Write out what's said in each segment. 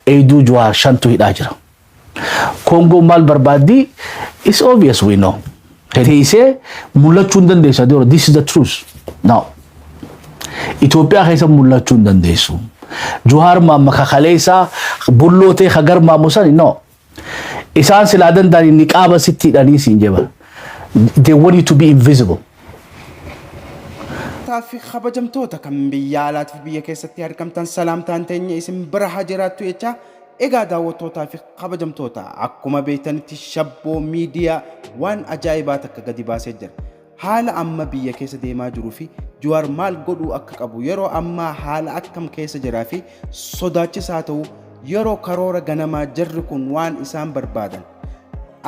Eeyduu Juhaar shantu hidhaa jira. Kongoon maal barbaaddi? It's obvious we know. Teeysee mul'achuu hin dandeessu Adeero. This is the truth. No. Itoophiyaa keessa mul'achuu hin dandeessu. Juhaar maamma kakaleessaa bulloo ta'e ka garmaamu sani no. Isaan silaa danda'anii niqaaba sitti hidhanii siin jeba. They want you to be invisible. Taaffi kabajamtoota kan biyya alaatii fi biyya keessatti argamtan salaamtaan teenya isin bira haa jiraattu jechaa egaa daawwattootaa fi kabajamtoota akkuma beektanitti shabboo miidiyaa waan ajaa'ibaa takka gadi baasee jira. Haala amma biyya keessa deemaa jiruu fi Juwaar maal godhuu akka qabu yeroo ammaa haala akkam keessa jiraa fi sodaachisaa ta'uu yeroo karoora ganamaa jarri kun waan isaan barbaadan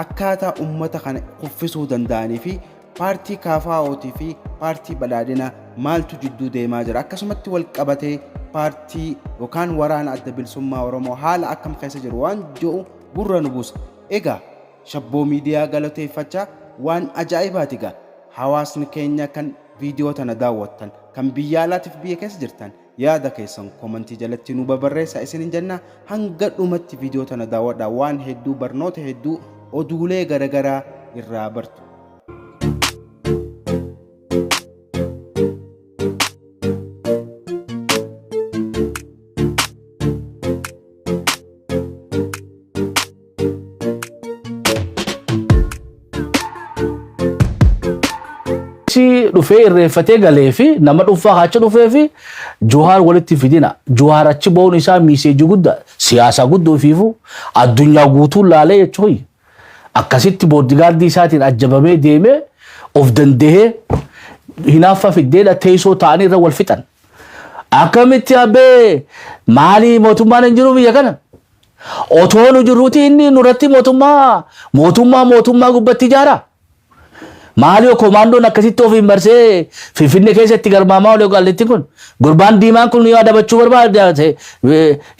akkaataa ummata kana kuffisuu danda'anii fi Paartii KFO tii fi Paartii Badhaadhina maaltu jidduu deemaa jira? Akkasumatti walqabatee paartii yookaan waraana Adda Bilisummaa Oromoo haala akkam keessa jiru waan jedhu gurra nu buusa. Egaa Shabboo Miidiyaa galateeffachaa waan ajaa'ibaati egaa hawaasni keenya kan viidiyoo tana daawwattan, kan biyya alaatiif biyya keessa jirtan, Yaada keessan comment jalatti nuu babarreessa isinin jenna. Hanga dhumatti video tana daawwadhaa waan hedduu barnoota hedduu oduulee garagaraa irraa bartu. achi dhufee irreeffatee galee fi nama dhuunfaa achi dhufee fi Juhaar walitti fidina. Juhaar achi ba'uun isaa miiseejii guddaa siyaasaa guddoo fiifu addunyaa guutuu laalee jechuun akkasitti booddigaardii isaatiin ajjabamee deemee of danda'ee hinaaffaa fiddeedha teessoo ta'anii irra wal fixan. Akkamitti abbee maalii mootummaan hin jiru biyya kana? Otoo nu jirruutii inni nurratti mootummaa mootummaa mootummaa gubbatti ijaara. Maaliyoo koomaandoon akkasitti ofiin marsee Finfinnee keessa itti garmaamaa olee qaallitti kun gurbaan diimaan kun yoo adabachuu barbaada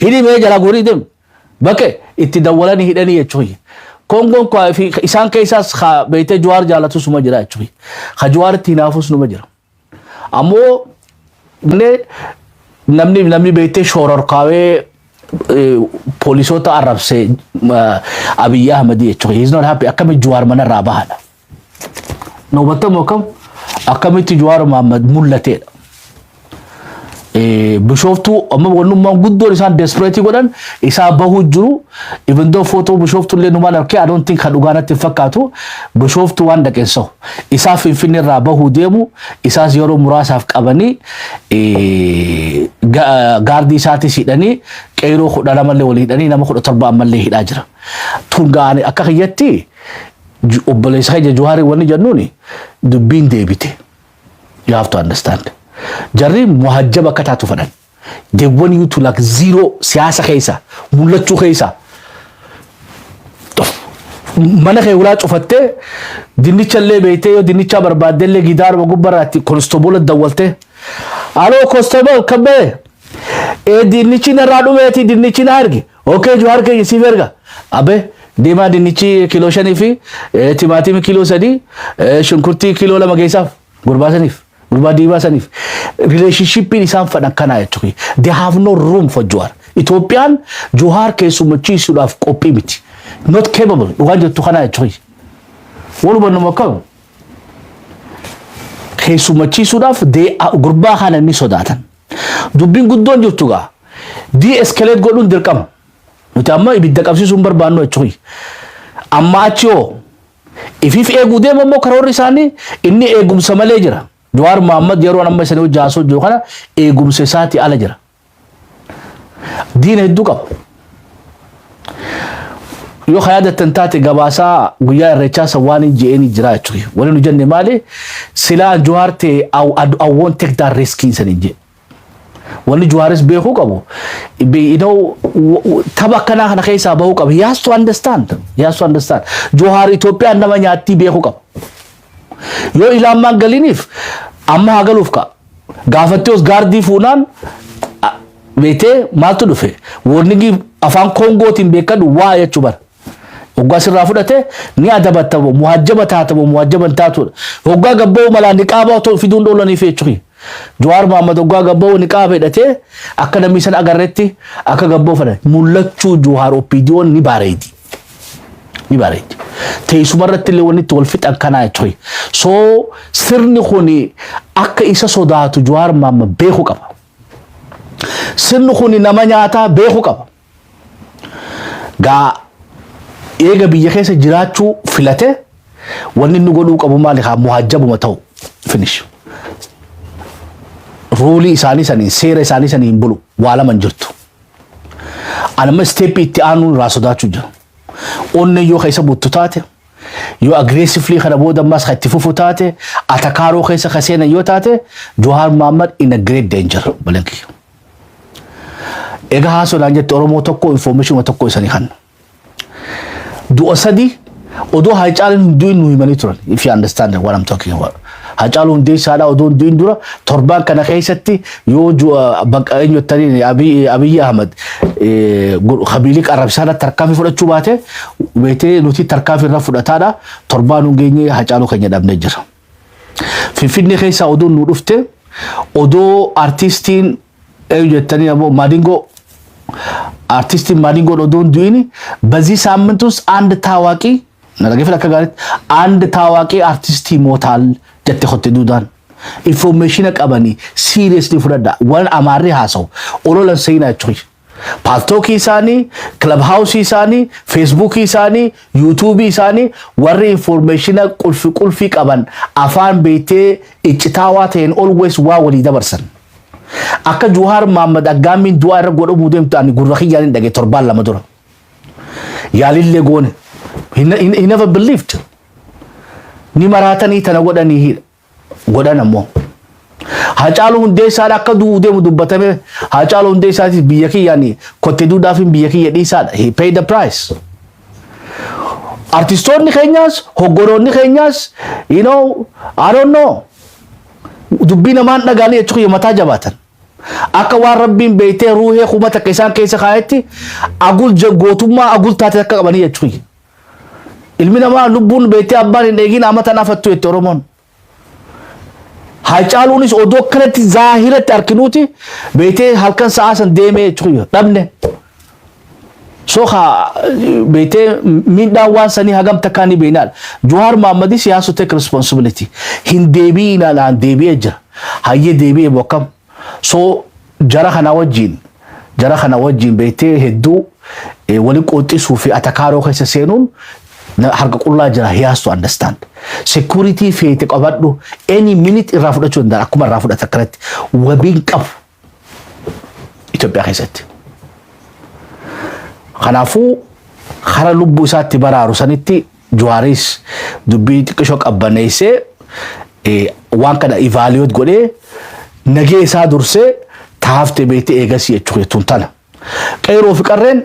hidhimee jalaa guurii deemu. Bakke itti dawwalanii hidhanii jechuun Kongoon isaan keessaas beektee Juwaar jaalatus suma jira jechuun. Ka Juwaaritti hinaafus numa jira. Ammoo illee namni namni beektee shoororkaawee eh, poolisoota arrabse eh, Abiyyi Ahmad jechuudha. He's not happy. Akkami Juwaar manarraa bahadha. Nuubatamu akkam akkamitti Juwaar Mahammad mul'ateedha. Eh, Bishooftuu amma wannummaan guddoon isaan desperate godhan isaa bahuu jiru. Even though footoo Bishooftuu illee numaan argee I don't think kan dhugaa natti hin fakkaatu. Bishooftuu waan dhaqeen sahu. Isaa Finfinnee irraa bahuu deemu isaas yeroo muraasaaf qabanii eh, ga- gaardii isaatis hidhanii qeyroo kudha lama illee wal hidhanii nama kudha torba ammallee hidhaa jira. Tun ga'anii akka kiyyatti ju- obboleessa keenya Juhaari wanni jennuuni dubbiin deebite. You have to understand. Jarri muhajjaba akka taatu fedhan. They want you to like zero siyaasa keessa mul'achuu keessa mana kee ulaa cufattee dinnicha illee beektee yoo dinnichaa barbaadde illee gidaaruma gubbarraatti konstoboola dawwaltee aloo konstobool kan ba'e ee dinnichi narraa dhumeeti dinnichi na arge Ok Juhaar keenya siif erga. Abe deemaa dinnichi kiiloo shanii fi eh, timaatimii kiiloo sadii eh, shunkurtii kiiloo lama geessaaf gurbaa saniif gurbaa diimaa saniif rileeshinshippiin isaan fadhan kanaa jechuudha. They have no room for Juhaar. Itoophiyaan Juhaar keessummachiisuudhaaf qophii miti. Not capable dhugaan jettu kanaa jechuudha. Wal hubannuma akkam keessummachiisuudhaaf they are- gurbaa kana ni sodaatan. Dubbiin guddoon jirtu gaa de-escalate godhuun dirqama. Nuti amma ibidda qabsiisuu hin barbaannu jechuu kiyya. Amma achi hoo ifiif eeguu deema immoo karoorri isaanii inni eegumsa malee jira. Jawaar Mohaammed yeroo amma isanii hojii haasoo jiru kana eegumsa isaati ala jira. Diina hedduu qaba. yoo ka yaadattan taate gabaasaa guyyaa irreechaa san waan hin je'een hin jiraa jechuudha. Wani nu jenne maali? Silaa Juhaar ta'e I won't take that risk hin san hin jedhe. Wanni Juhaaris beekuu qabu. be- you know, w- w- Tapha akkanaa kana keessaa bahuu qaba. He has to understand. He has to understand. Juhaar Itoophiyaan nama nyaattii beekuu qaba. Yoo ilaamaan galiiniif amma haa galuuf ka'a. Gaafattiyoos gaardii fuunaan a- beektee maaltu dhufe woornigii afaan koongootiin beekadhu waa jechuu bara. Hoggaa sirraa fudhate ni adabatta moo muhajjaba taata moo muhajjaba hin taatuudha. Hoggaa gabba'uu malaa niqaabaa otoo fiduun dhoolaniif jechuudha. Jawaar Mahammad hoggaa gabba'uu niqaaba hidhatee akka namni san agarretti akka gabba'uu fedhan. Mul'achuu Jawaar OPDOn ni baareedi. ni bareeddi. Teessuma irratti illee wanni itti wal fixan kanaa jechuudha. So sirni kun akka isa sodaatu Jawaar Maamma beeku qaba. Sirni kun nama nyaataa beeku qaba. Gaa eega biyya keessa jiraachuu filate wanni inni godhuu qabu maali haa muhaajjabuma ta'u finish. Ruulii isaanii saniin seera isaanii saniin bulu waa lama hin jirtu. Anamma isteeppii itti aanuu irraa sodaachuu jira. Onneen yoo keessa buttu taate, yoo agreessivlii kana booda ammaas kan itti fufu taate, atakaaroo keessa kan seenan yoo taate, Johaar Maammad in a great danger balanki. Egaa haa sodaan jette Oromoo tokko information tokko isanii kanna. du'a sadii odoo Haacaaluun hin du'in nu himanii turan. If you understand what I'm talking about. Haacaaluu Hundeessaadhaa odoo hin du'in dura torbaan kana keessatti yoo du'a bakka eenyu jettaniin Abiy Abiy Ahmad eh, gu- habilii qarrabsaadha tarkaanfii fudhachuu baate beetee nuti tarkaanfii irra fudhataadha torbaan hin geenye Haacaaluu keenya dhabnee jira. Finfinnee keessaa oduun nu dhufte odoo artiistiin Eeyu jettanii ammoo Maadingoo artistiin Maadingoon odoon du'ini bazii saammintuus and taawaaqii na dhageeffadha akka gaariitti and taawaaqii artistii mootaal jette kotte duudaan. Infoormeeshina qabanii siiriyeesni fudhadha waan amaarri haasawu ololan seenaa jechuun. Paaltookii isaanii, kilab haawusii isaanii, feesbuukii isaanii, yuutuubii isaanii warri infoormeeshina qulfi qulfii qaban afaan beektee iccitaawaa ta'een always waa walii dabarsan. Akka Juhaar Maammad aggaammiin du'aa irra godhamuu deemtu ani gurra kiyyaan hin dhage torbaan lama dura. Yaalillee goone. He ne- he- he never believed. Ni maraatanii tana godhanii hi- godhan ammoo. Hacaaluu hundeessaan akka du'uu deemu dubbatame Hacaaluu hundeessaatis biyya kiyyaan kotte duudhaafin biyya kiyya dhiisaadha. He paid the price. Artistoonni keenyaas hoggoroonni keenyaas you know I don't know Dubbii namaa hin dhagaanii jechuu kiyya mataa jabaatan. Akka waan rabbiin beeytee ruuhee kuma takka isaan keessa kaayetti agul je- gootummaa agul taate akka qabanii jechuu kiyya. Ilmi namaa lubbuun beeytee abbaan hin eegin amatan afattu jette Oromoon. Haacaaluunis odoo akkanatti zaahiratti arkinuuti beeytee halkan sa'aa san deemee jechuu kiyya dhabne. So ka beetee miidhaan waan sanii hagam takkaa ni beeknaan. Juhaar Maammadis he has to take responsibility. Hin deebi'ii ilaalaan deebi'ee jira. Hayyee deebi'ee moo akkam? So jara kana wajjin jara kana wajjin beektee hedduu eh, wali qooxxisuu fi atakaaroo keessa seenuun na- harka qullaa jira he has to understand. Security feete qabadhu any minute irraa fudhachuu danda'a akkuma irraa fudhata akkanatti wabiin qabu Itoophiyaa keessatti. Kanaafuu hara lubbuu isaatti baraaru sanitti Juwaaris dubbii xiqqishoo qabbaneessee waan kana ivaaliyoot godhee nagee isaa dursee taafte beektee eegasii jechuu jechuun tana. Qeerroo fi qarreen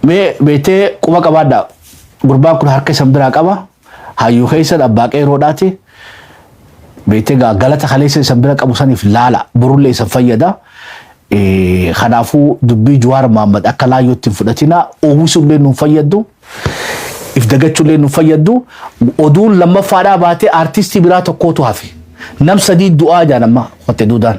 mee beektee quba qabaadhaa. Gurbaan kun harka isan biraa qaba. Hayyuu keessan abbaa qeerroodhaati. Beektee gaa galata kaleessa isan bira qabu saniif laala. Borullee isan fayyada. Eh, Kanaafuu dubbii Juwaar Maammad akka laayyootti hin fudhatina. Uwwisuullee nu hin fayyaddu. If dagachuullee nu hin fayyaddu. Oduun lammaffaadhaa baatee artistii biraa tokkootu hafe. Nam sadii du'aa jaan amma qotte duudaan.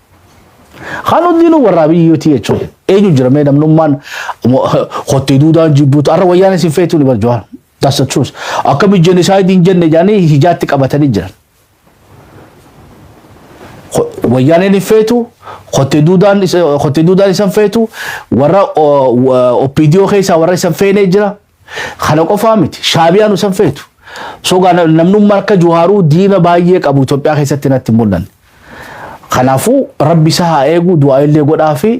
Kan hundinuu warraa biyyuu TH eenyu jira mee namnummaan kottee duudaan jibbuutu arra wayyaan isin feetuu ni barjuwaan. That's the truth. Akkami genocide hin jenne jedhanii hijaatti qabatanii jiran. Wayyaaneen hin feetu, kottee duudaan isan feetu, warra OPDO keessaa warra isan feenee jira. Kana qofaa miti. Shaabiyaa nu san feetu. Sogaa na- namnummaa akka Juhaaruu diina baay'ee qabu Itoophiyaa keessatti natti hin mul'anne. Kanaafuu rabbi isa haa eegu du'aa illee godhaa fi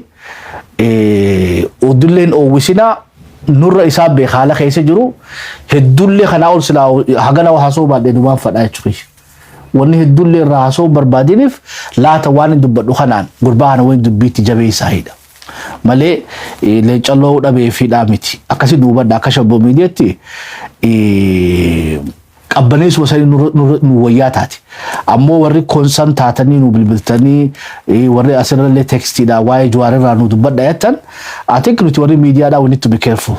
eh, odulleen oowwisinaa nurra isaa beeka haala keessa jiru heddullee kanaa ol silaa hagana haasoo baadhee dumaan fadhaa jechuudha. Wanni heddullee irraa haasoo barbaadiniif laata waan hin dubbadhu kanaan gurbaa kana waliin dubbiitti jabeessaa hidha. malee eh, leenca lo'uu dhabee fi dhaa miti. Akkasii nu hubadha akka shabboo miidiyaatti eh, qabbaneessuma sanii nurra- nurra- nu wayyaa taate. Ammoo warri konsan taatanii nu bilbiltanii eh, warri asirrallee tekstiidha waa'ee juwaarerraa nu dubbadha jettan. I think nuti warri miidiyaadhaa we need to be careful.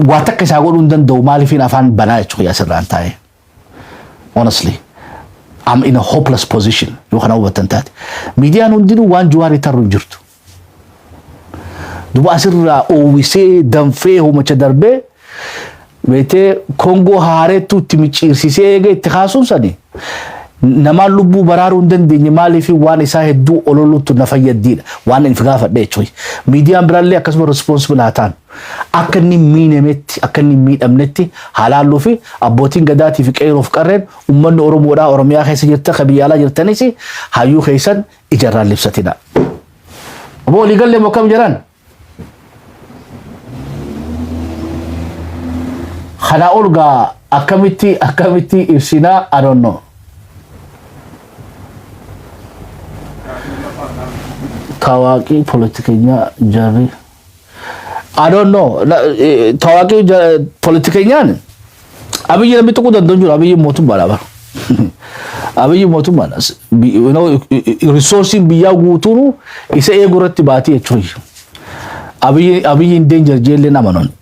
Waa takka isaa godhuu hin danda'u maaliifiin afaan banaa jechuudha asirraan taa'ee. honestly I'm in a hopeless position yoo kana hubattan taate miidiyaan hundinuu waan juwaarii tarru hin jirtu duba asirraa oowwisee danfee homacha darbee beetee kongoo haareettuu itti micciirsisee eega itti kaasuun sani namaan lubbuu baraaruu hin dandeenye maaliif waan isaa hedduu ololuutu na fayyaddiidha waan inni gaafadhe jechuudha miidiyaan biraallee akkasuma responsible haa ta'an Akka inni hin miinemetti, akka inni hin miidhamnetti haa laalluu fi abbootiin gadaatii fi qeeroo fi qarreen uummanni Oromoodhaa Oromiyaa keessa jirtan kan biyya alaa jirtanis hayyuu keessan ija irraa hin libsatinaa. Obbo walii galle moo akkam jiraan? Kanaa ol gaa akkamitti akkamitti ibsinaa I don't know. Tawaaqii poolitikenyaa jarri. I don't know. La- eh, Tawaaqii ja- politikeenyaan abiyyi namni tuquu danda'u hin jiru abiyyi mootummaadha bara. Abiyyi mootummaadha. S- bi- you know, i- i- i- Risoorsiin biyyaa guutuun isa eeguu irratti baatee jechuudha. Abiyyi abiyyi hin danger jeellee nama nuni.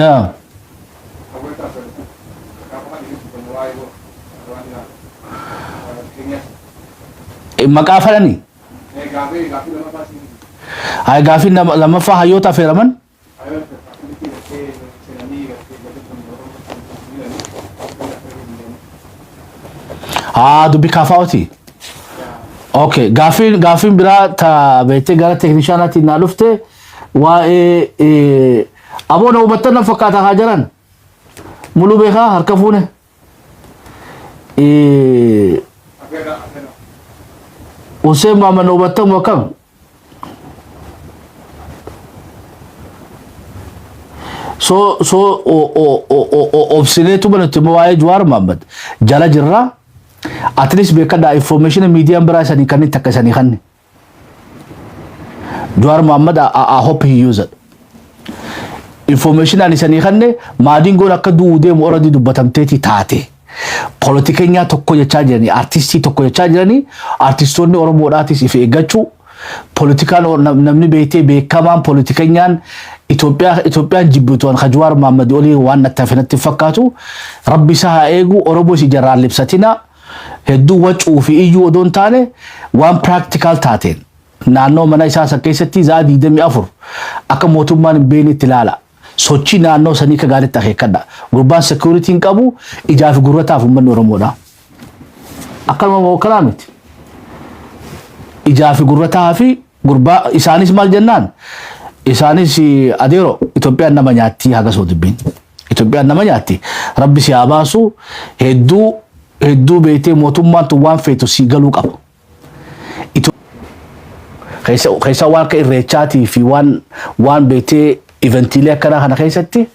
yaa Eh, maqaa fedhani Ay, gaafiin lama- lammaffaa hayyoota affeeraman haa dubbi kaafaa'ooti okay gaafiin gaafiin biraa ta beektee gara teeknishaanaatti naa dhufte waa'ee aboo na hubattan na fakkaata haa jaran muluu beekaa harka fuune Hussein Maamman na hubattamu akkam so so obsineetu manatti immoo waa'ee Jawaar Maamman jala jirra at least beekadhaa information miidiyaan biraa isanii kannitti akka isanii kanni. Jawaar Mohaammed I, I, I hope he used. Information ani sanii kanne maadingoon akka du'uu deemu oradii dubbatamteeti taate. Poolitikenyaa tokko jechaa jiranii, artistii tokko jechaa jiranii, artistoonni Oromoodhaatis if eeggachuu, poolitikaan o- nam- namni beektee beekamaan poolitikenyaan Itoophiyaa Itoophiyaan jibbituan ka Jawaar Mohaammed olii waan nattafinatti fakkaatu rabbi isaa haa eegu Oromoos ijarraan libsatinaa. hedduu wacuu fi iyyuu odoo hin taane waan practical taateen naannoo mana isaa san keessatti zaa 24 akka mootummaan hin beeknetti ilaala. Sochii naannoo sanii akka gaariitti akeekkadha. Gurbaan security hin qabu ijaa fi gurrataaf uummanni Oromoodha. Akkanuma moo akkanaa miti. Ijaa fi gurrataa fi gurbaa isaanis maal jennaan isaanis adeero Itoophiyaan nama nyaattii haga soo dubbiin. Itoophiyaan nama nyaatti. Rabbi si haa baasu. Hedduu hedduu beektee mootummaan tun waan feetu sii galuu qaba. Ito- keessa keessa waan akka irreechaatii fi waan waan beektee eventiilee akkanaa kana keessatti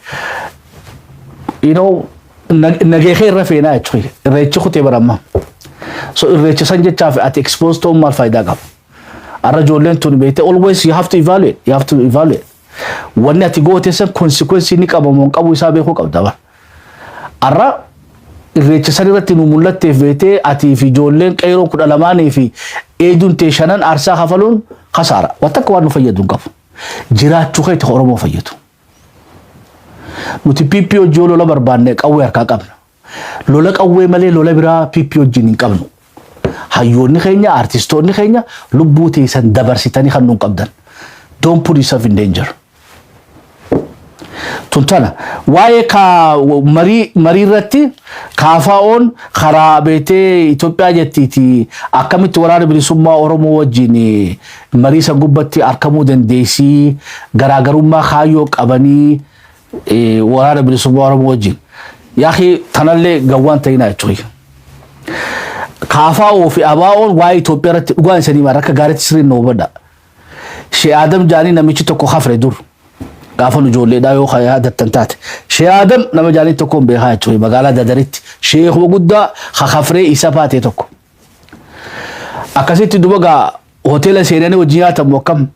you know nag- nagee kee irra feenaa jechuudha. Irreechi kutee baramma. So irreecha san jechaaf ati expose ta'uun maal faayidaa qaba? Arra ijoolleen tun beektee always you have to evaluate, you have to evaluate. Wanni ati goote san konsikwensii ni qaba moo hin qabu isaa beekuu qabda bar. Arra irreecha san irratti nu mul'atteef beektee atii fi ijoolleen qeeroo kudha lamaanii fi eeduun tee shanan aarsaa kafaluun kasaara. Waan takka waan nu fayyadu hin qabu. Jiraachuu keeti ka Oromoo fayyadu. Nuti PP hojii yoo lola barbaanne qawwee harkaa qabna. Lola qawwee malee lola biraa PP wajjin hin qabnu. Hayyoonni keenya, aartistoonni keenya lubbuu teessan dabarsitanii kan nuun qabdan. Don't put yourself in danger. Tun tana waa'ee kaa marii marii irratti kaafaa'oon karaa beetee Itoophiyaa jettiiti akkamitti waraana bilisummaa Oromoo wajjin eh, marii san gubbatti argamuu dandeessii garaagarummaa kaayyoo qabanii waraana bilisummaa Oromoo wajjin yaakii tanallee gawwaan ta'inaa jechuudha. Kaafaa'oo fi Abaa'oon waa'ee Itoophiyaa irratti dhugaan isanii maal akka gaariitti sirriin na hubadha. Shee Adam jaanii namichi tokko hafre dur gaafa nu ijoolleedhaa yoo kan yaadattan taate. Shee Adam nama jaanii tokkoon beekaa jechuudha magaalaa Dadaritti sheekuma guddaa hafree isa baatee tokko. Akkasitti duba gaa hoteela seenanii wajji nyaatamu akkam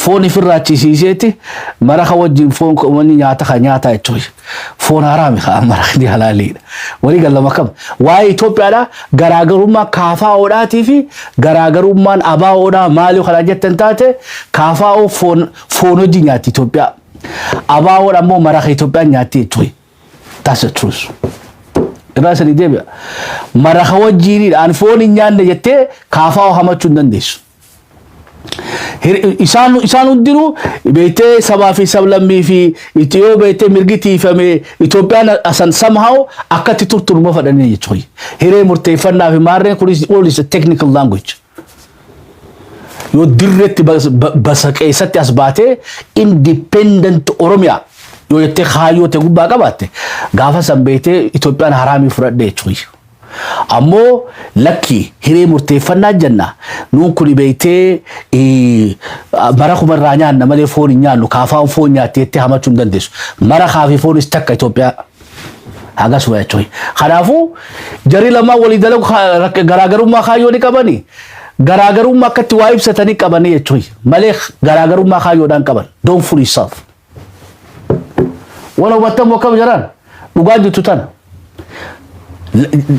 foon ifirraa chisiiseeti mara kan wajjin foon kan wani nyaata kan nyaataa jechuun foon haraami kan mara kan halaaliidha. Walii galama akkam waa'ee Itoophiyaadha garaagarummaa kaafaa'oodhaatii fi garaagarummaan abaa'oodhaa maali kanaa jettan taate kaafaa'oo foon foon wajjin nyaatti Itoophiyaa. Abaa'oodha immoo mara kan Itoophiyaan nyaatti jechuun. That's the truth. Irraa sanii deebi'a. Maraka wajjiinidha. An foon hin nyaanne jettee kaafaa hamachuu hin dandeessu. Hir- isaan isaan hundinuu beektee sabaa fi sablammii fi itti yoo beektee mirgi tiifamee Itoophiyaan asan somehow akkatti turturuma fadhanii jechuudha. Hiree murteeffannaa fi maarreen kunis all is a technical language. yoo dirreetti basa keessatti as baatee independent Oromiyaa yoo jettee kaayyoo ta'e gubbaa qabaatte gaafa san beektee Itoophiyaan haraamii fudhadhe jechuudha. Ammoo lakkii hiree murteeffannaa jenna nuun kuni beektee mara kuma irraa nyaanna malee foon hin nyaannu kaafaan foon nyaatte jettee hamachuu hin dandeessu. Mara kaafii foonis takka Itoophiyaa. Hagas waya coy. Kanaafuu jarii lamaan walii dalagu kaa- rak- garaagarummaa kaayyoo ni qabani. Garaagarummaa akka itti waa ibsatanii qabanii jechuun malee garaagarummaa kaayyoodhaan qaban. Don't fool yourself. Wan hubattan moo akkam jiraan? Dhugaa jirtu tana.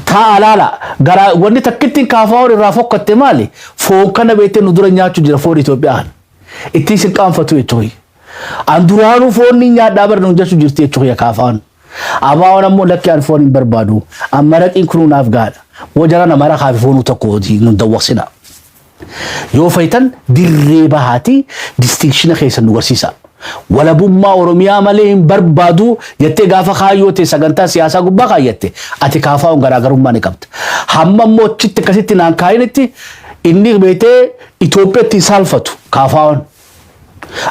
Taa'aa laala. Garaa wanni takkittiin kaafaa hor irraa fokkatte maali? Foon kana beektee nu dura nyaachuu jira foon Itoophiyaa. Ittiin sin qaanfatu jechuun. An duraanuu foon ni nyaadhaa bar nuun jechu jirti jechu kiyya kaafaan. Abaawan ammoo lakki an foon hin barbaadu. An maraqiin kunuu naaf gaadha. Moo jarana maraqaa fi foonuu tokko hojii nun dawwaqsina. Yoo fayitan dirree bahaatii distinkshina keessan nu garsiisa. Walabummaa Oromiyaa malee hin barbaadu jettee gaafa kaayyoo ta'e sagantaa siyaasaa gubbaa kaayyatte ati kaafaa'uun garaagarummaa ni qabda. Hamma immoo achitti akkasitti naan kaa'initti inni beetee Itoophiyaatti hin saalfatu kaafaa'uun.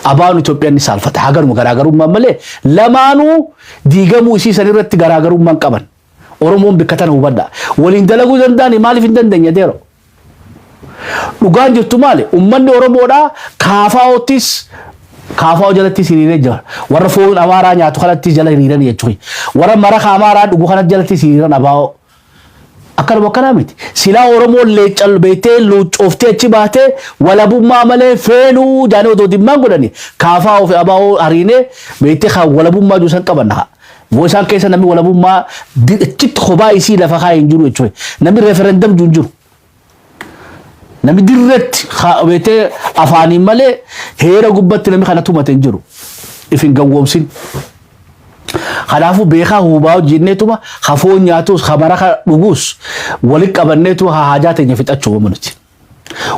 Abaa'oon Itoophiyaan ni saalfata. Haa garuma garaagarummaan malee lamaanuu diigamuu isii san irratti garaagarummaan qaban. Oromoon bikka tana hubadha. Waliin dalaguu danda'ani maaliif hin dandeenye deero? Dhugaan jirtu maali? Ummanni Oromoodhaa kaafaa'oottis kaafaa'oo jalattis hiriiree jira. Warra foon Amaaraa nyaatu kanattis jala hiriiran jechuudha. Warra maraka Amaaraa dhugu kanatti jalattis hiriiran abaa'oo. Akkanuma akkanaa miti. Silaa Oromoon leencal beektee luuccooftee achi baatee walabummaa malee feenuu jaanii odoo dimmaan godhanii kaafaa ofi abaa'oo hariinee beektee kan walabummaa jiru san qabanna haa. Boo isaan keessa namni walabummaa achitti kophaa isii lafa kaa hin jiru jechuudha. Namni referendum jiru hin jiru. Nami dirretti beetee afaaniin malee heera gubbatti nami kana tumate hin jiru. If hin gawwoomsin. Kanaafuu beekaa hubaa hojjenneetuma ha foon nyaatus ha maraka dhugus walitti qabanneetuma ha haajaa teenya fixachuu qabna nuti.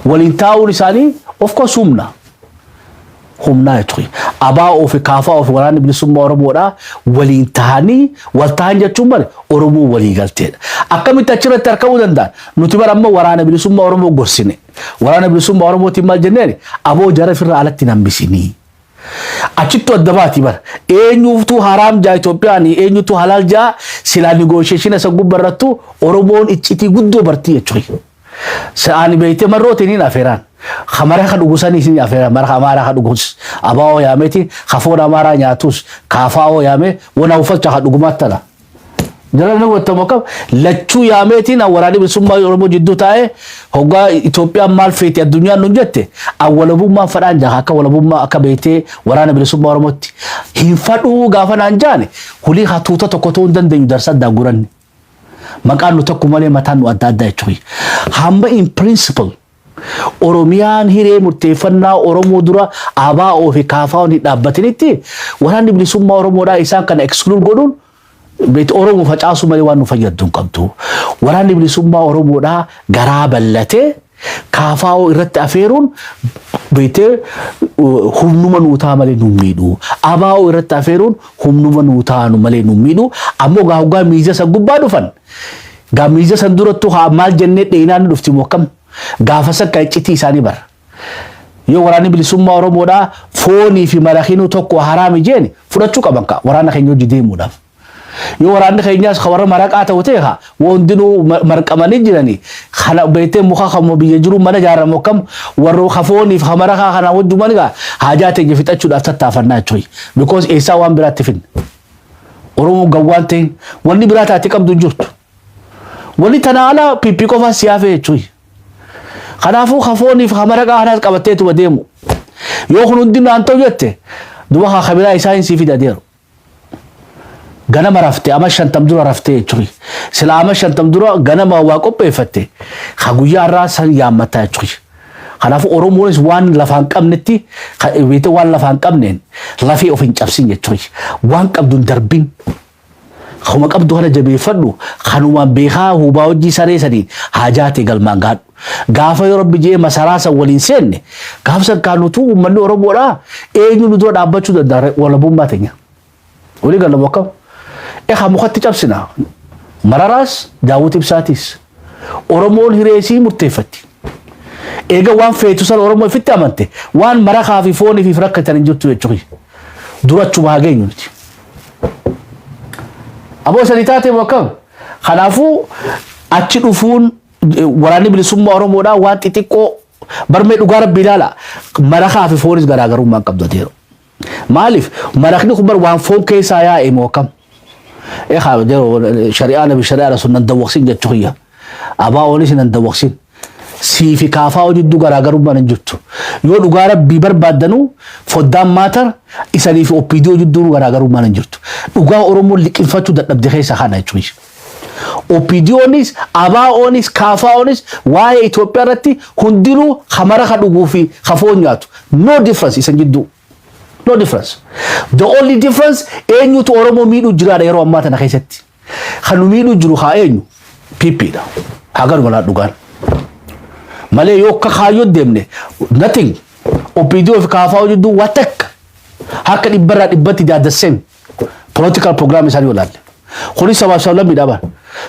Waliin taa'uun isaanii of course humna. humnaa jechu kiyya. ABO fi KFO fi waraanni bilisummaa Oromoodhaa waliin tahanii wal tahan jechuun bar Oromoon walii galteedha. Akkamitti achirratti arkamuu danda'an? Nuti bar amma waraana bilisummaa Oromoo gorsine. Waraana bilisummaa Oromootiin maal jenneen? Aboo jara firraa alatti hin hambisinii. Achittu adda baati bar. Eenyuuftuu haraam jaa Itoophiyaan eenyutu halaal jaa silaa negotiation isa gubba irrattu Oromoon iccitii guddoo bartii jechuudha. Sa'aani beeyte marroo teniin afeeraan. Ka mara ka dhugu saniis ni afeeraan. Mara ka amaaraa ka dhugus abaa'oo yaameti. Ka foon amaaraa nyaatus ka afaa'oo yaamee wan awufalcha ka dhugumaat tana. Jara ni hubattamu akkam lachuu yaameetiin an waraanni bilisummaa Oromoo jidduu taa'ee hoggaa Itoophiyaan maal feeti addunyaan nun jette an walabummaan fadhaan jaa akka walabummaa akka beeytee waraana bilisummaa Oromootti hin fadhuu gaafa naan jaane hulii hatuuta tokko ta'uu hin dandeenyu darsaddaa guranne. Maqaan nu tokko malee mataan nu adda addaa jechuudha. Hamma in principle Oromiyaan hiree murteeffannaa Oromoo dura ABO fi KFO'n hin dhaabbatinitti waraanni bilisummaa Oromoodhaa isaan kana exclude godhuun beet Oromoo facaasuu malee waan nu fayyaddu hin qabdu. Waraanni bilisummaa Oromoodhaa garaa bal'atee KFO irratti afeeruun beektee humnuma nuu ta'a malee nu miidhu. ABO irratti afeeruun humnuma nuu ta'a malee nu miidhu. Ammoo gaa hoggaa miidiyaa san gubbaa dhufan gaa miidiyaa san durattuu haa maal jennee dheenaan dhufti moo akkam gaafa sakka iccitii isaanii bara. Yoo waraanni bilisummaa Oromoodhaa foonii fi marakiinuu tokko haraami jeeni fudhachuu qaban kaa waraana keenya hojii deemuudhaaf. Yoo waraanni keenyaas ka warra maraqaa ta'u ta'e ka wa hundinuu ma- marqamanii jiranii kana beektee muka kammoo biyya jiruu mana ijaaramu akkam warra ka fooniif ka maraqaa kanaa wajjuman egaa haajaa teenya fixachuudhaaf tattaafannaa jechuudha. Because eessaa waan biraatti finna. Oromoo gawwaan ta'in wanni biraa taate qabdu hin jirtu. Wanni tanaa alaa piippii qofaan si hafe jechuudha. Kanaafuu ka fooniif ka maraqaa kanaas qabatteetuma deemu. Yoo kun hundi naan ta'u jette duba ka kabiraa isaa hin sii fida deeru. Ganama rafte ama shantam dura rafte jechuun sila ama shantam dura ganama waa qopheeffatte ka guyyaa irraa san yaammatta jechuun. Kanaafuu Oromoonis waan lafaan qabnetti ka- beekte waan lafaan qabneen lafee of hin cabsin jechuun waan qabdu hin darbin. Kanuma qabdu kana jabeeffadhu kanumaan beekaa hubaa hojii saree saniin haajaatee galmaan gaadhu. Gaafa yoo rabbi jee masaraa san waliin seenne gaafa san kaa nutuu uummanni Oromoodhaa eenyu nu dura dhaabbachuu danda'a walabummaa teenya. Walii gallamu akkam? Ekaa mukatti cabsina. Mararaas daawwiti ibsaatiis. Oromoon hiree isii murteeffatti. Eega waan feetu san Oromoo ifitti amante waan marakaa fi foonii fi rakkatan hin jirtu jechuudha. Dura achuma haa geenyu nuti. Aboo sanii taatee moo akkam? Kanaafuu achi dhufuun Waraanni bilisummaa Oromoodhaa waan xixiqqoo barmee dhugaa rabbi ilaala. Marakaa fi foonis garaagarummaa hin qabdu adeero. Maaliif marakni kun bar waan foon keessaa yaa'e moo akkam? Ekaa adeero shari'aa nabi shari'aa rasul nan dawwaqsin jechuu kiyya. Abaa oonis nan dawwaqsin. Sii fi kaafaa hojiddu garaagarummaan hin jirtu. Yoo dhugaa rabbii barbaaddanu foddaan maatar isanii fi oppiidii hojidduun garaagarummaan hin jirtu. Dhugaa Oromoon liqinfachuu dadhabde keessa kana jechuudha. OPDOnis, ABOnis, KFOnis waa'ee Itoophiyaa irratti hundinuu ka mara ka dhuguu fi ka foon nyaatu. No difference isan jidduu. No difference. The only difference eenyutu Oromoo miidhuu jiraadha yeroo ammaa tana keessatti. Kan nu miidhuu jiru haa eenyu? PP dha. Haa galuma laa dhugaan. Malee yoo akka kaayyoo deemne nothing. OPDO fi KFO jidduu waa takka. Harka dhibbarraa dhibbatti they are the same. Political program isaanii olaalle. Kunis sabaaf sablammii dhaban.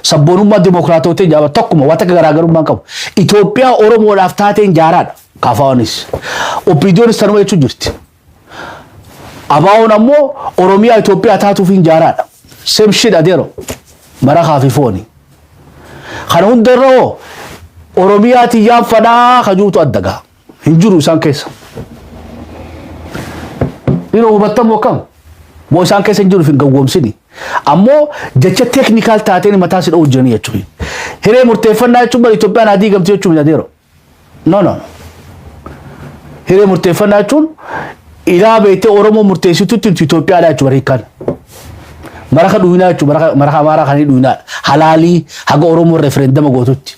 Sabboonummaa dimookiraatootiin jaaba tokkuma waan takka garaagarummaa hin qabu. Itoophiyaa Oromoodhaaf taateen jaaraadha. Kaafaawanis. Oppiidiyoonis tanuma jechuun jirti. Abaawoon ammoo Oromiyaa Itoophiyaa taatuuf hin jaaraadha. Same shit adeero. Marakaa fi fooni. Kana hundarra hoo Oromiyaa tiyyaan fadhaa kajuutu adda gaha. hin jiru isaan keessa. Yeroo hubattamu akkam moo isaan keessa hin jiru hin gawwoomsini. Ammoo jecha teeknikaal taateen mataa si dha'uu jiranii jechuudha. Hiree murteeffannaa jechuun bara Itoophiyaan haa diigamtu jechuun miti adeero. No no. Hiree murteeffannaa jechuun ilaa beektee Oromoo murteessitutti Itoophiyaa dha jechuudha hiikaan. Maraka dhuunaa jechuudha maraka amaaraa kan dhuunaa halaalii haga Oromoo referendama gootutti.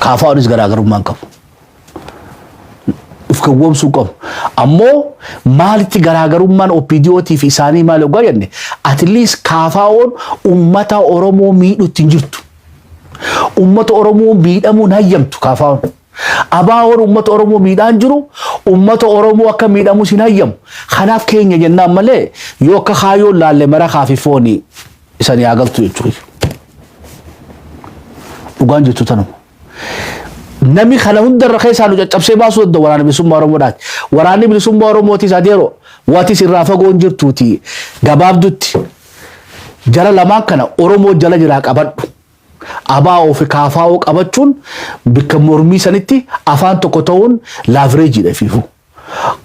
Kaafaa'uunis garaagarummaa hin qabu. Of gowwoomsuu hin qabu. Ammoo maalitti garaagarummaan OPDOtii fi isaanii maal hoggaa jenne atiliis kaafaa'oon uummata Oromoo miidhutti hin jirtu. Uummata Oromoo miidhamuun hayyamtu kaafaa'oon. Abaawoon uummata Oromoo miidhaan jiru uummata Oromoo akka miidhamus hin hayyamu. Kanaaf keenya jennaan malee yoo akka kaayoo laalle mara kaafi foonii. isanii haa galtu jechuu kiyya. Dhugaan jirtu tanuma. Nami kana hundarra keessaa nu caccabsee baasuu danda'u waraana bilisummaa Oromoodhaati. Waraanni bilisummaa Oromootis adeero watis irraa fagoon jirtuuti gabaabdutti jara lamaan kana Oromoo jala jiraa qabadhu. Abaa fi kaafaa'oo qabachuun bakka mormii sanitti afaan tokko ta'uun laavireejiidha fiifuu.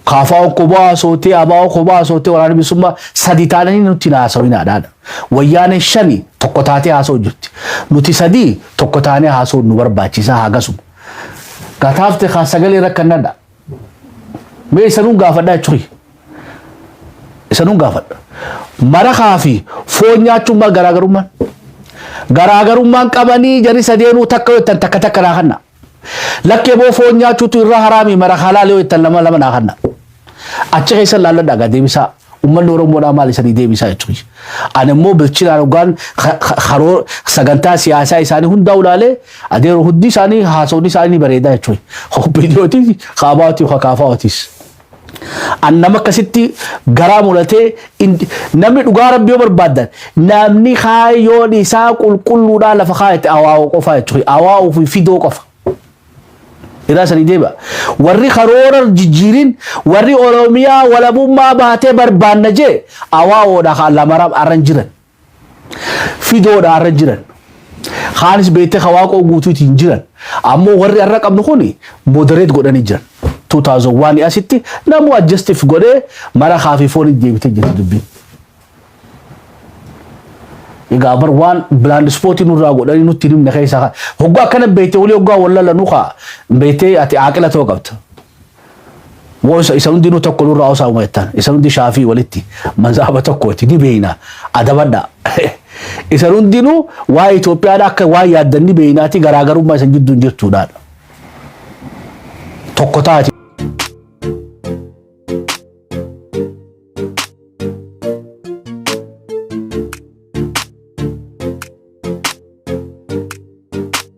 Kaafaa Okkoboo haasootee Abaa Okoboo haasootee waraana bilisummaa sadi taananii nutti hin haasawinaadhaan. Wayyaanee shani tokko taatee haasoo jirti. Nuti sadii tokko taanee haasoo nu barbaachisaa hagasuma. Gataafte kaa sagalee rakkannadha. Mee isanuun gaafadhaa jechuun isanuun gaafadha. Marakaa fi foon nyaachuun maal garaagarummaan? Garaagarummaan qabanii jari sadeenuu takka yoo ta'an takka takka naa kanna. Lakkee boo foon nyaachuutu irra haraami mara halaal yoo ittan lama lama naa kanna. Achi keessa laalladha gaa deebisaa. Uummanni Oromoodhaa maal isanii deebisaa jechuun. Ani immoo bilchinaan hoggaan ka- ka- karoo sagantaa siyaasaa isaanii hundaa ulaalee adeero hundi isaanii haasawni isaanii ni bareedaa jechuun. Hobbidiyootis kaabaatii kakaafaawatiis. An nama akkasitti garaa mulatee indi- namni dhugaa rabbi yoo barbaaddan namni kaayyoon isaa qulqulluudhaa lafa kaayate awaa'oo qofaa jechuudha. Awaa'oo fi fidoo qofa. Irraa sanii deema. Warri karoora jijjiirin warri Oromiyaa walabummaa baatee barbaanna jee awaa'oodha kan lamaraa arran jiran. fidoodha arra jiran. Kaanis beektee ka waaqoo guutuutiin jiran. Ammoo warri arra qabnu kun moderate godhanii jiran. 2001 asitti namuu adjustif godhee mara kaafii foonii deebitee jirti dubbiin. Egaa bar waan bilaand ispootii nurraa godhanii nutti hin himne keessaa hoggaa akkana beektee walii hoggaa wallala nu kaa beektee ati aaqila ta'uu qabda. Moo isa, isa hundinuu tokko nurraa hosaa'uma jettan? Isan hundi shaafii walitti mazhaaba tokkooti ni beeyna adabadha. isan hundinuu waa'ee Itoophiyaadha akka waan yaaddan ni beeynaati garaagarummaa isan jidduun jirtuudhaan tokko taati.